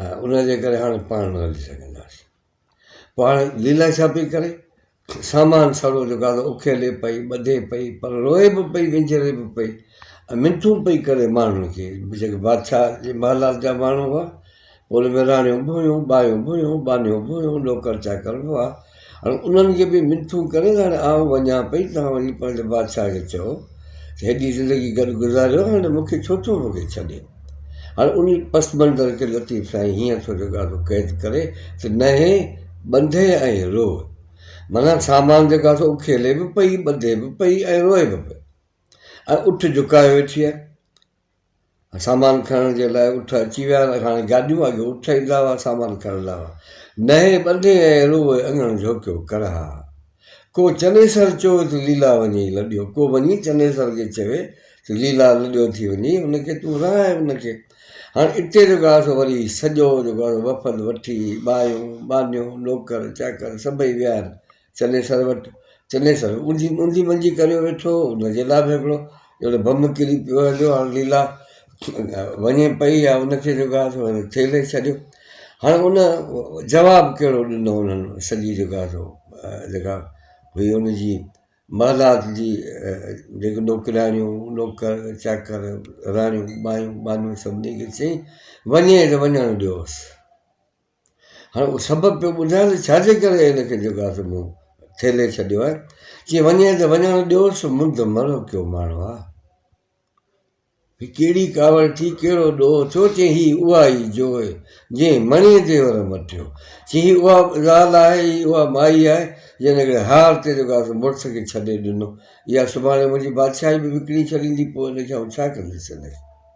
۽ ان جي ڪري هاڻي پاڻ نه هلي سگهنداسين. پوء هاڻي ليلا ڇا پئي ڪري؟ سامان سڙو جو گادو اڪيلي پئي، ٻڌي پئي، پر روئي به پئي، وينجهري به پئي ۽ منٿون پئي ڪري ماڻهن کي، جيڪي بادشاهه جي محلات جا ماڻهو هئا، پوء ان ۾ راڻيون به هيون، ٻايون به هيون، ٻانهيون به هيون، نوڪر چاڪر به هئا. هاڻي انهن کي به منٿون ڪري ته هاڻي آئون وڃان پئي، تان وري پنهنجي بادشاهه کي چئو ته هيڏي زندگي گڏ گذاريو آهي، هاڻي مون کي ڇو ٿو موڪلي ڇڏي. هاڻي انهي پس منظر کي لطيف سائين هيئن ٿو جڳاڙو قيد ڪري ته نهي، ٻنڌي ۽ روء. معنيٰ سامان جيڪو آهي سو اکيلي به پئي، ٻنڌي به پئي ۽ روئي به پئي ۽ اٺ جهڪايو ويٺي آهي. سامان کڻڻ جي لاء اٺ اچي ويا هئا، هاڻي گاڏيون، اڳي اٺ ايندا هئا سامان کڻڻ لاء. نهين ٻڌي ۽ روئي اڱڻ جهوڪيو ڪر ها. ڪو چنيسر چوي ته ليلا وڃي لڏيو، ڪو وڃي چنيسر کي چوي ته ليلا لڏيو ٿي وڃي ان کي تون رهائي ان کي. هاڻي اتي جيڪو آهي سو وري سڄو جيڪو آهي سو وفد وٺي ٻايون، ٻانهيون، نوڪر، چاڪر سڀئي ويا آهن. چنيسر وٽ چنيسر اونجي اونجي منجي ڪريو ويٺو هو ان جي لاء به هڪڙو اهڙو بم ڪري پيو هليو هاڻ ليلا وڃي پئي يا ان کي جيڪو آهي سو ٿيلهي ڇڏيو هاڻ ان جواب ڪهڙو ڏنو انهن سڄي جيڪو آهي سو جيڪا هئي ان جي محلات جي جيڪو نوڪرياڻيون نوڪر چاڪر راڻيون ٻايون ٻانهيون سڀني کي چئي وڃي ته وڃڻ ڏيوس هاڻي هو سبب پيو ٻڌائي ته ڇاجي ڪري هن کي جيڪو آهي سو مون ٿيلهي ڇڏيو آهي چي وڃي ته وڃڻ ڏيوس مند مرو ڪيو ماڻهو آ هي ڪهڙي ڪاوڙ ٿي ڪهڙو ڏوهه ٿيو چي هي اها ئي جو جنهن مڻي ديور مٽيو چي هي اها زال آهي هي اها مائي آهي جنهن هڪڙي هار تي جيڪو آهي سو مڙس کي ڇڏي ڏنو اها سڀاڻي منهنجي بادشاهي به وڪڻي ڇڏيندي پوء هن کي آئون ڇا ڪنديس هن کي